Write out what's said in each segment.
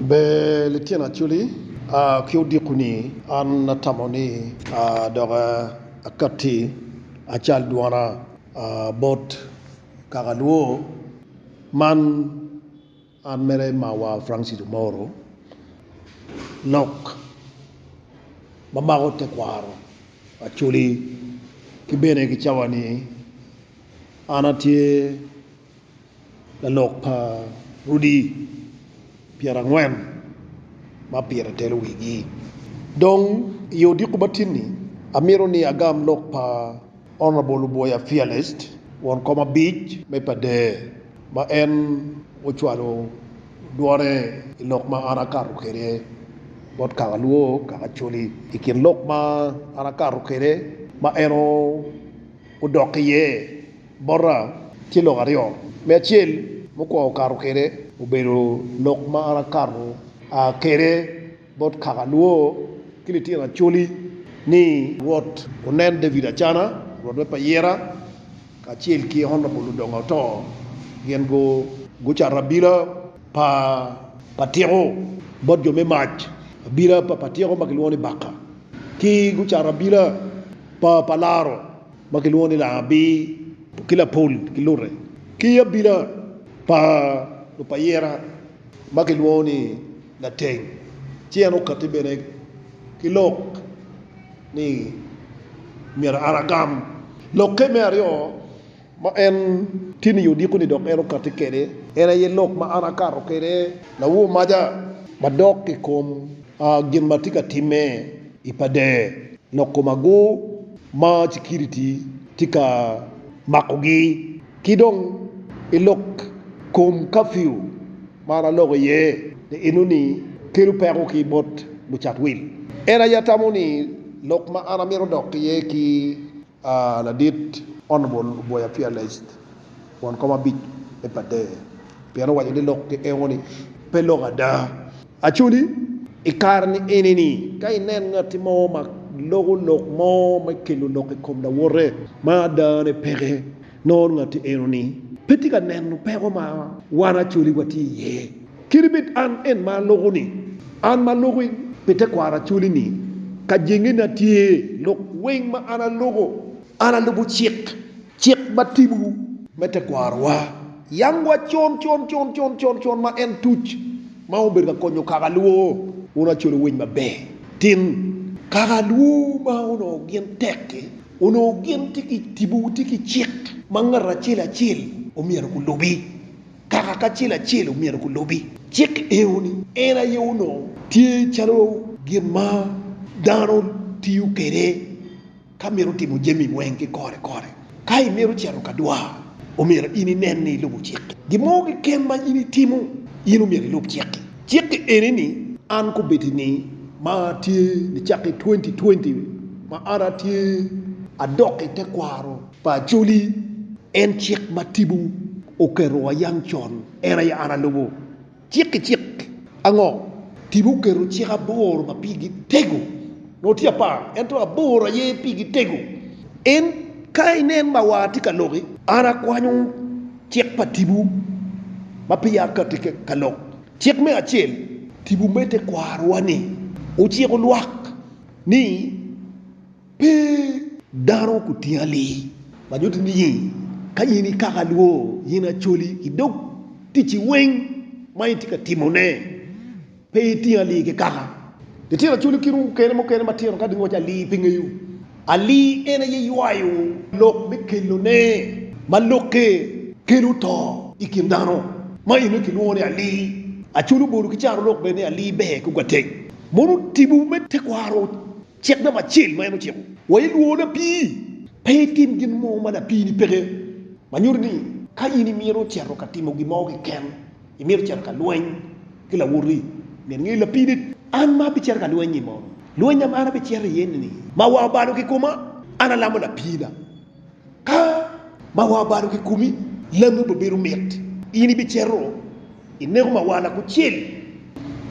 Ber litino Acholi, ki odiko ni an atamo ni dok akatti acal dwona bot kaka lwo man an mere mawa Francis Omoro lok mamako tekwaro Acholi ki bene ki cawa ni an atye Lalok pa rudi pyerangwen ma pire telo wigi. Dong i odiko matini, amito ni agam lok pa Honourable Luboya Fearlest, won kom abic me Padee, ma en ocwalo dwone i lok ma an akato kwede bot kaka Luo, kaka Acholi. I kin lok ma an akato kwede ma en odok iye. bota tye lok aryo, me acel mukwongo kato kwede obedo lok ma an akato kwede bot kaka alwo ki litino Acholi ni Rwot onen David Acana, Rwot me Payera, kacel ki Honorable Odongo Ato gin gucato abila pa tiko bot jo me mac, abila pa tiko ma kilwongo ni Baka, ki gucato abila pa laro ma kilwongo ni Laabir ki Lapol ki Lute, ki i abila pa lupayira ma kilwongo ni Lateng, ci en okatti bene ki lok ni myero an agam. Lokke me aryo ma en tye ni odiko-ni dok en okatti kwede, en aye lok ma an akato kwede lawo maca madok i kom gin ma tye ka timme. I pader loko magu ma cikiriti tye ka makogi ki dong i lok kom kafiu ma an aloko iye ni enoni kelo peko ki bot lucat wil. En aye atamo ni lok ma an amito dok iye ki Aa ladit Honourable Oboya Fearlest won kom abic me Pader pien owaco ni lok ki engo ni pe lok ada. Actually i kare ni eni ni ka inen ngati mo ma loko lok mo me kelo lok i kom lawote ma adane peke, Nongo ngatti enoni pe tye ka neno peko ma wan Acholi watye iye. Kadi bed an en ma aloko-ni, an ma aloko pi tekwaro Acholi-ni, ka jengena tye lok weng ma an aloko, an alubo cik, cik ma tipo me tekwarowa yangwa con con con con con con ma en tuc ma obedo ka konyo kaka alwo wun Acholi owiny maber tin. Kaka alwo ma onongo gin tek-ki. Onongo gin tye ki tipo, tye ki cik ma ngat acel acel omyero gulubi. Kaka kacel acel omyero gulubi cik eno-ni, en aye onongo tye calo gin ma dano tiyo kwede ka mito timo jami weng ki kore kore. Ka imito cito ka dwar, omyero in inen ni ilubo cik-ki. Gin mo keken ma in itimo, in omyero ilub cik-ki. Cik eni ni an kubedi ni ma tye nicakke 2020 ma an atye adok i tekwaro pa Acholi en cik ma Tibu oketo wa yang con en aye an alubo cik ki cik. Ango? Tibu oketo cik aboro ma pigi tego nongo tye apar ento aboro aye pigi tego en ka inen ma wa atye ka loki an akwanyo Cik pa Tipo ma peya ka tye ka lok. Cik me acel, Tipo me tekwarowa-ni ociko lwak ni pe dano kutingali. Ma nyuto ni ka in ikako alwor, in acoli i dog ticci weng ma itye ka timone. Pe iting alii ki kaka litino culu kit okene mukene matino ka giwaco alii pe ngeyo. Alii en aye ywayo lok me kelone ma lokke kelo to i kin dano ma eno kilwongo ni alii. Aculu obolo ki caro lok bene ni alii ber ki ogwateng. Mono tipo me tekwaro cik namba acel ma en ociko wa i lworo lapii, Pe itim gin mo ma lapiini peke, ma nyuto ni ka in imito cito ka timo gin mo keken. Imito cito ka lweny ki lawoti nyen ngeyi lapidit? An ma abicito ka lweny-nyi mono? Lwenya ma an abicito iye-ni ma wa obalo kikoma, an alamo lapiina. Ka ma wa obalo kikomi, lami obibedo mit. In ibicito ineko mawala kucel,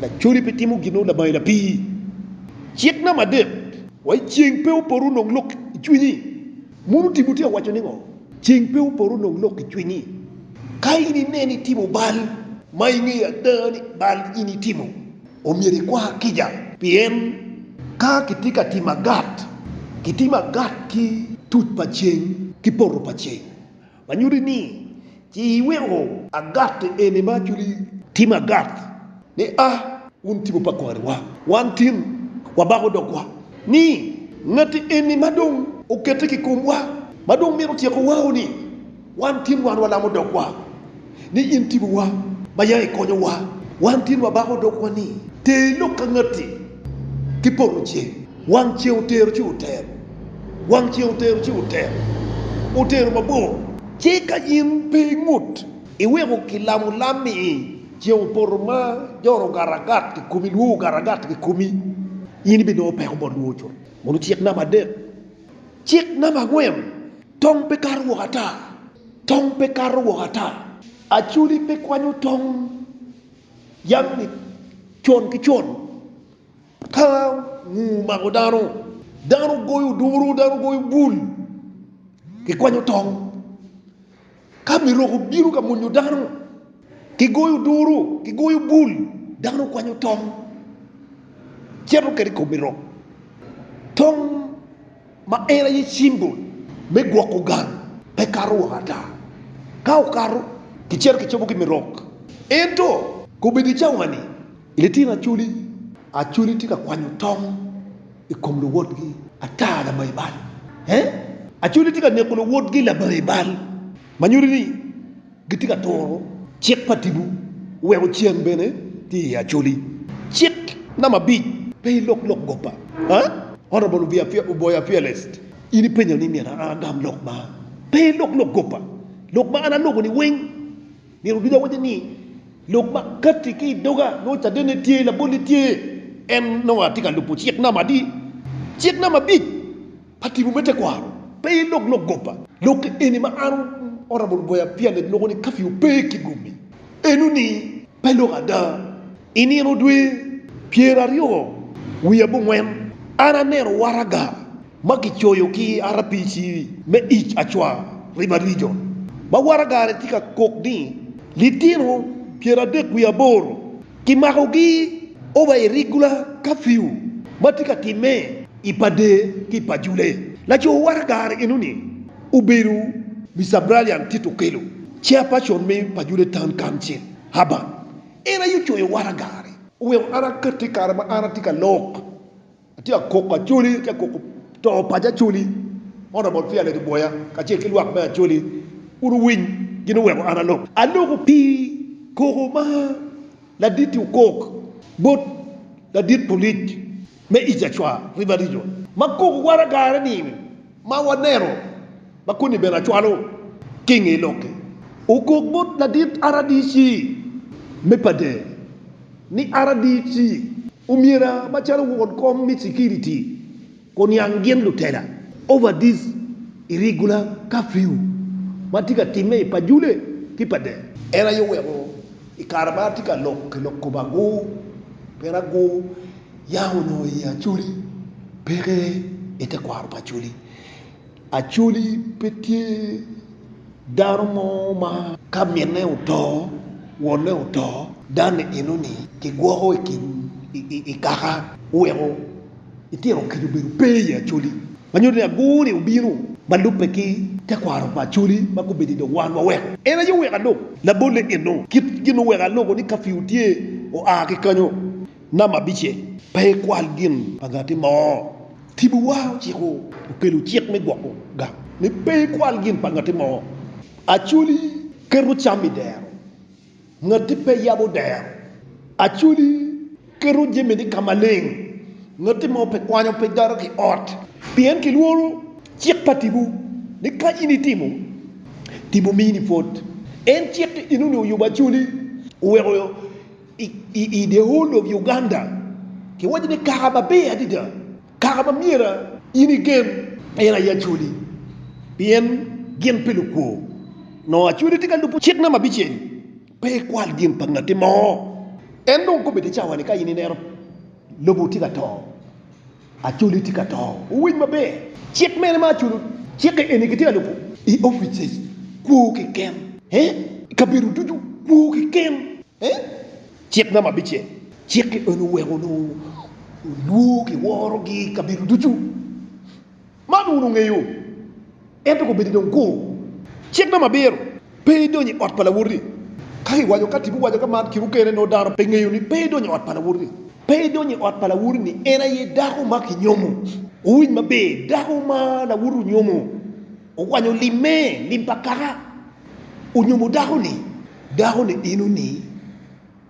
lacodi pe timo gin nongo labangi lapii. Cik na madit wa iceng pe opoto nongo lok icwinyi. Mono Timote owaco ningo? Ceng pe opor onong lok i cwinyi ka in ineno itimo bal ma ingeyo ada ni bal in itimo. Omyero ikwa kica pien ka kitye ka timo agat, kitimo agat ki tuc pa ceng ki poto pa ceng. Ma nyuti ni ci iweko. Agat eni ma aculi. Tim agat ni a wun tipo pa kwariwa. Wan tin wabako dogwa ni ngati eni ma dong okette ki komwa ma dong mito tyeko wao ni wan tin wan walamo dogwa. ni in tipowa ma ya ikonyowa. Wan tye lwa bako dog wa ni ter lok ka ngati ki poto ceng. Wang ceng otero ci otero. Wang ceng otero ci otero. Otero mabor. Ci ka in pe ingut iweko ki lamo lam ni i ceng opoto ma joro ogato agat ki komi lwor ogato agat ki komi in ibi nongo peko bot lwor cut. Mono cik namba adek. Cik namba angwen. Tong pe kato woko ata. Tong pe kato woko ata. Acholi pe kwanyo tong yam ni con ki con ka nguu omako dano, dano goyo oduru, dano goyo bul, kikwanyo tong. Ka Mirok obino ka monyo dano, kigoyo oduro, kigoyo bul, dano kwanyo tong, cito kede i kom Mirok. Tong ma en aye cimbol me gwoko gang pe kato woko ata. Ka okato, kicito kicobo ki Mirok. Ento, kobedo i cawa-ni, Litino Acholi Acholi tye ka kwanyo tong i kom luwotgi ata labayi bal e Acholi tye ka neko luwotgi labayi bal ma nyuto ni gitye ka turo cik pa Tipo weko ceng bene tye iye Acholi Cik namba abic Pe ilok lok goppa a Honorable Oboya Fearlest In ipenyo ni myero an agam lok ma Pe ilok lok goppa Lok ma an aloko-ni weng Myero ducu awacci ni, lok ma katti ki i doga, nongo cadenne tye, labolle tye, en nongo atye ka lubo cik nam adi? Cik nam abic pa timo me tekwaro, Pe ilog lok goba. Lok eni ma an oromo luboya pia leb loko ni kafiu pe ki gomi enoni, Pe lok ada. I nino dwe pyeraryo wiye abongwen, an aneno waraga ma kicoyo ki RPC me ic acwa River Region ma waragane tye ka kok ni litino pyeradek wiye aboro kimakogi over irregular curfew ma tye ka timme i Padee ki i Pajule. Laco waragane enoni obedo Mister Bralian Tito Okello, Chairperson me Pajule Town Council, Urban. En aye ocoyo waragane. Oweko an akette i kare ma an atye ka lok. Atye ka koko Acholi, atye ka koko to paco Acholi, Honourable Fiale Kiboya kacel ki lwak me Acholi kun owiny gin oweko an alok. Aloko pi koko ma Laditi okok bot Ladit Polic me East Acwa River Region ma koko waragane ni ma waneno ma koni bene acwalo ki i nge lok-ki. Okok bot Ladit RDC me Padeng ni RDC. Omyera macalo won kom me cikiriti oniang gin lutela overdis irregular curfew ma tye ka timme i Pajule ki Padel. En aye oweko i kare ma atye ka lok ki lok kome agur pien agur yam onongo i Acholi peke i tekwaro pa Acholi. Actually pe tye dano mo ma ka minne oto, wonne oto dani eno ni kigwoko i kin i kaka oweko itino kica obedo pe i Acholi. Ma nyuto ni agur ni obino ma lubbe ki tekwaro pa Acholi ma gubedo i dog wan waweko en aye oweko alub labolle eno. Kit gin oweko alubo ni curfew tye oa ki kanyo nama abice pe ikwal gin pa ngati mo. Tipowa ociko okelo cik me gwoko gang ni pe ikwal gin pa ngati mo. Acholi keto cam i dero, ngati pe yabo dero. Acholi keto jamini ka maleng, ngati mo pe kwanyo pe doto ki ot. Pien kilworo cik pa tipo ni ka in itimo, tipo mini pwod. En cik enoni oyubo acholi, oweko. I Dehou Lok Uganda, kiwaco ni kaka maber adada, kaka ma myero in igen, en aye Acholi, pien gin pi lukwo. Nongo Acholi tye ka lubo cik nam abicel, Pe ikwal gin pa ngati mo. En dong kobbe ki cawa ni ka in ineno lobo tye ka to. Acholi tye ka to. Wuwiny maber. Cik mene ma aculo? Cikke eni kitye ka lubo. I opice kwo keken. Eh? I kabedo ducu kwo keken. Eh? Cik na ma bicel? Cikke eni oweko onongo lwor ki worogi i kabedo ducu. Man wun wungeyo, ento kobedo dong kuru. Cik me abiro, Pe idony i ot pa lawoti. Ka iwaco ka tipo waco ka man, kit okene nongo dano pe ngeyo ni pe idony i ot pa lawoti. Pe idony i ot pa lawoti ni en aye dako ma kinyomo. Wuwinj maber, dako ma lawoti onyomo, owanyo lim me lim pa kaka onyomo dako-ni, dako-ni ino ni.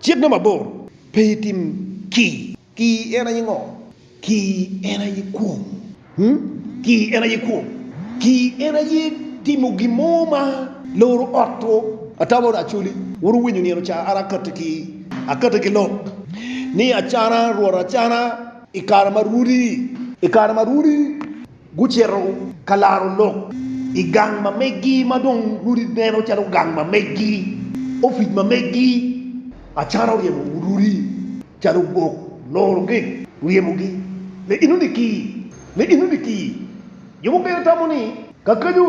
Cit dong mabor, pe itim kii. Kii en aye ngo? Kii en aye kwong. Hum, kii en aye kwong. Kii en aye timo gin mo ma loro ot two. Atamo ni Acholi wun wuwinyo nino ca an akati ki akati ki lok ni acana rwot acana i kare ma rwodi i kare ma rwodi. Gucito ka laro lok i gang ma meggi ma dong rwodi neno calo gang ma meggi, opic ma meggi, acata oryemo rwodi calo gok, loro gek, ryemogi. Leino ni ki, leino ni ki. Jo mukene tamo ni, Ka kenyo.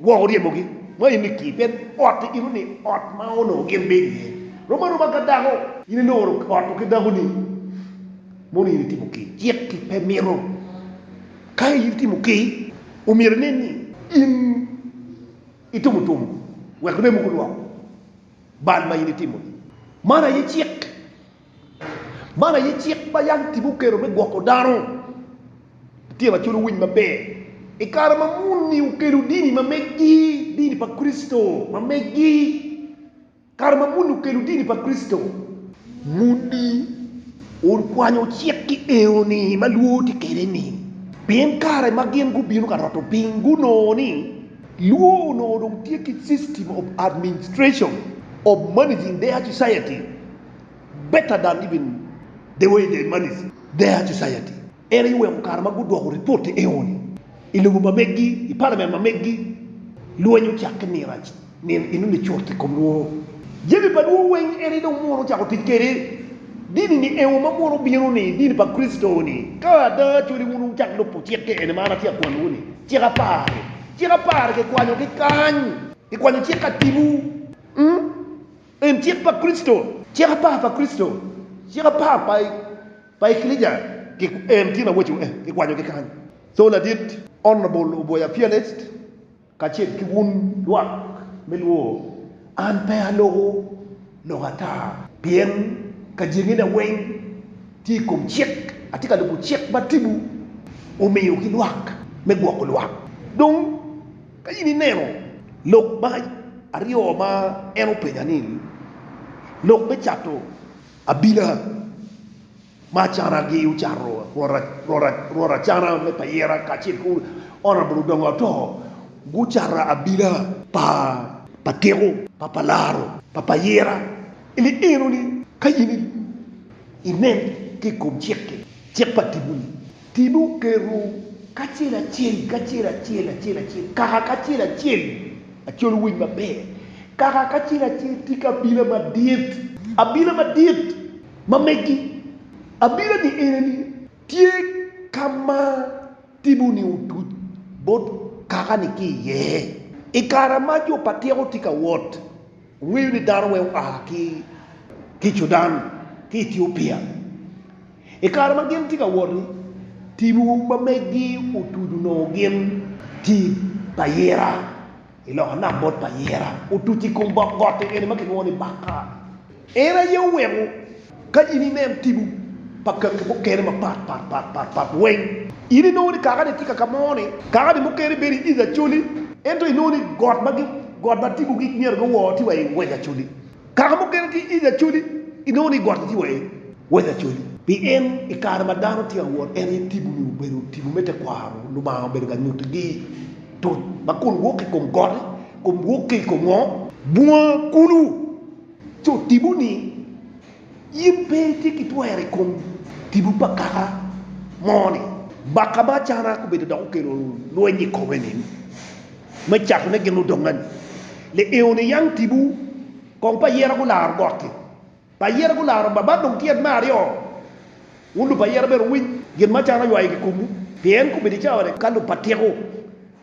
Gwok oryemogi ma in iki, pien ot eno ni ot ma onongo gin bedo iye. Rom aroma ka dako, in iloro ot ki dakoni, mono in itimo kei? Cik ki pe mito ka in itimo kei. Omyero inen ni in itumo tum wek remo gulwok bal ma in itimo-ni. Man aye cik. Man aye cik ma yam Tipo oketo me gwoko dano. Tye macalo winy maber. I kare ma muni okelo dini ma meggi, dini pa Kricito ma meggi. Kare ma muni okelo dini pa Kricito, muni okwanyo cik-ki eno-ni ma lwor tye kwede-ni, pien kare ma gin gubino ka roto piny gunongo ni lwor onongo dong tye ki system of administration of managing their society. Better than even the way they manage their society. En aye oweko kare ma gudwoko ripot i eoni, i lobo ma meggi, i parliament ma meggi, lweny ocakke nino nino inuni cut i kom lworo. Jami pa lworo weng en aye dong muono ocako tic kwede. Dini ni eo ma muono obino ni, dini pa Kricito ni, ka ada cwali wun wucak lubo cikke eni ma an atye ka kwanowu ni, cik apar-ri. Cik apar-ri kikwanyogi kany, kikwanyo cik atibu. En cik pa Kricito. Cik apar pa Kricito, cik apar pa pa ekilicia ki en tin awaco eh ki kwanyo ki kany. Thoo ladit Honourable Oboya Fearlest kacel ki wun lwak me luo an pe aloko lok ata pien ka jenge na weng tye i kom cik atye ka lubo cik ma Tibu omiyo ki lwak me gwoko lwak dong. Ka in ineno lok ma aryo ma en openya ni, lok me cato abila ma acanagi ocato rwot acana me payera kacel ki Honourable Odongo Atoo gucato abila pa tiko pa palaro pa payera ni enoni ka in inen ki i kom cik pa tipo-ni. Tibu kerwu kacel acel, kacel acel, acel acel, kaka kacel acel, acol winy maber, kaka kacel acel tika abila madit, abila madit ma megi, abila-ni eneni. Tye ka ma tibu-ni otuc bot kaka-ni ki iye, i kare ma jo pa tyeko tye ka wot. Wuweyo ni dano wek oa ki ki Cudan ki Etiopia i kare ma gin tye ka wot-ti, tibu ma megi otudu nongo gin ti pa Yira i loka nam bot pa Yira, otuc i kom bok gotti eni ma kilwongo ni Bakar. En aye oweko Ka in inen tipo pa kaki mukene mapatpat weng, in inongo ni kaka-ni tye kaka mo ni, kaka-ni mukene bedo i East Acholi, ento inongo ni got ma tipo gi myero giwor tye wa i West Acholi. Kaka mukene tye i East Acholi, inongo ni got-ti tye wa i West Acholi. Pien i kare ma dano tye ka wot, en aye tipo-ni obedo tipo me tekwaro, Lubanga obedo ka nyutigi toc ma kun wok ki i kom got-ti, kun wok ki i kom ngo? Bunga kulu. Co tipo ni in pe itye ki twero i kom tipo pa kaka mo ni. Baka ma Acana gubedo dok gukelo lweny i kome ni, me cako ne gin ludonga ni, Lieo ni yang tipo kong pa ayera gularo gotti, pa ayera gularo ba ba dong tyet me aryo, wun lupa ayera bene wuwiny gin ma Acana oywayo ki komwu, pien gubedo i cawa ni ka lupa tiko.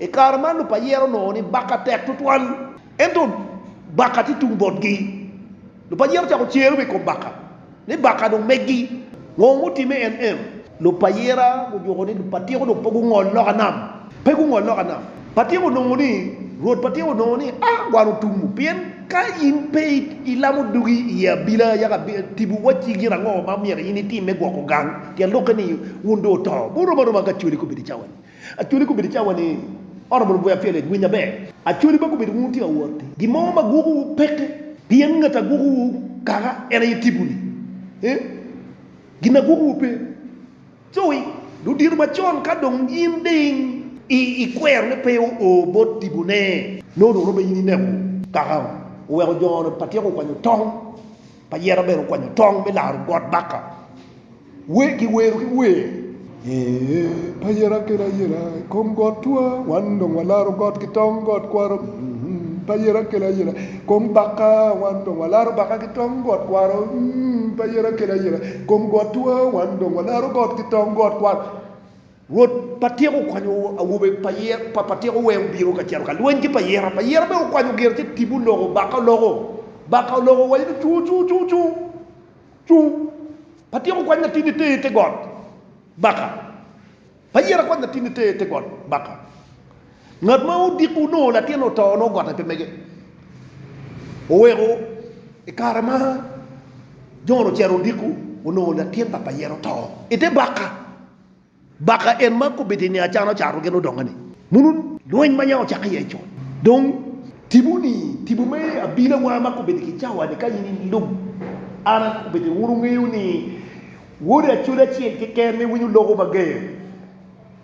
I kare man lupayere onongo ni baka tek tutwal, ento baka tye tung botgi. Lupayere ocako cere wa i kom baka ni baka dong meggi. Ngo mutimme? NM, Lupayere gujuko ni lupatiko dong pe gungol loka nam. Pe gungol loka nam. Patiko onongo ni, Rwot Patiko onongo ni, A! Wan otumu, pien ka in pe ilamo dugi i ye abila, yaka tipo wacci gin ango ma myero in itim me gwoko gang, pien lokke-ni wun dong oto, wun rom aroma ka cwali kobedi cawa-ni. Actually kobedo cawa ni honourable Guya Felix winyo aber. Actually ba kobedo wun wutye ka wot i gin mo ma guko wu peke pien ngat a guko wu kaka en aye tipo ni eh gin a guko wu pe coy dong dyeto macon ka dong in ding i i kwero ne pe o o bot tipo ne nongo dong romo in i neko kaka oweko jo ne pa tyeko kwanyo tong pa yera bene okwanyo tong me laro got baka. Wer ki wero ki wer. Ee, payera kelo ayela i kom got twa, wan dong walaro got ki tong got kwaro, payera kelo ayela i kom bakka, wan dong walaro bakka ki tong got kwaro, payera kelo ayela i kom got twa, wan dong walaro got ki tong got kwaro. Rwot patyeka okwanyo awobe pa patyeka wee obino ka cito ka lweny ki payera, payera bene okwanyo gire ci tipo oloko bakka oloko, bakka oloko owaco ni cuu cuu cuu cuu. Cung pa tyeko kwac na tinni ter ite got baka pa yera kwac na tinni ter ite got baka. Ngat ma odiko onongo latinne oto onongo gotte pe mege. Oweko i kare ma Jon ocito odiko onongo latin papa yera oto ite baka. Baka en ma kobbe teni acana ocato gin odonge ni munu lweny ma nya ocake iye co dong tibu ni tibu me abila wa ma kobbe ki cawa ni ka in i lub an a kobbe ni wunu ngeyo ni wode acoli acel ki ken me winyo loko mager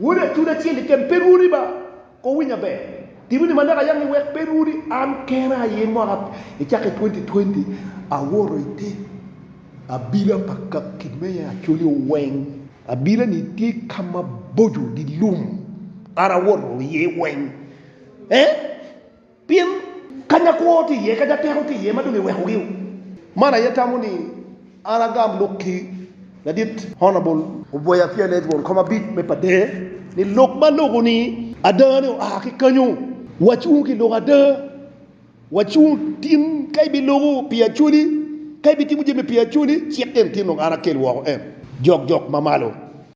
wode acoli acel ki ken pe rwodi ba Ko winya ber, tibi ni malek ayangi wek pe rwodi an kena aye mwaka i cake twenty twenty awoto i te abila pa kaki me acholi oweng abila ni tye kama boco gi lum an awoto iye weng eh. Pien kanya kwo tye iye, kanya teko tye iye ma dong iwekogi o. Man aye tamo ni an agam lok ki ladit Honourable. Obwaya pien en twon kom abit me pa der ni lok ma loko ni ada ni oa ki kanyo. Wacung ki lok ada, wacung tin ka ibi loko pi Acholi, ka ibi timo jami pi Acholi cik en tin dong an akel woko en jok jok ma malo.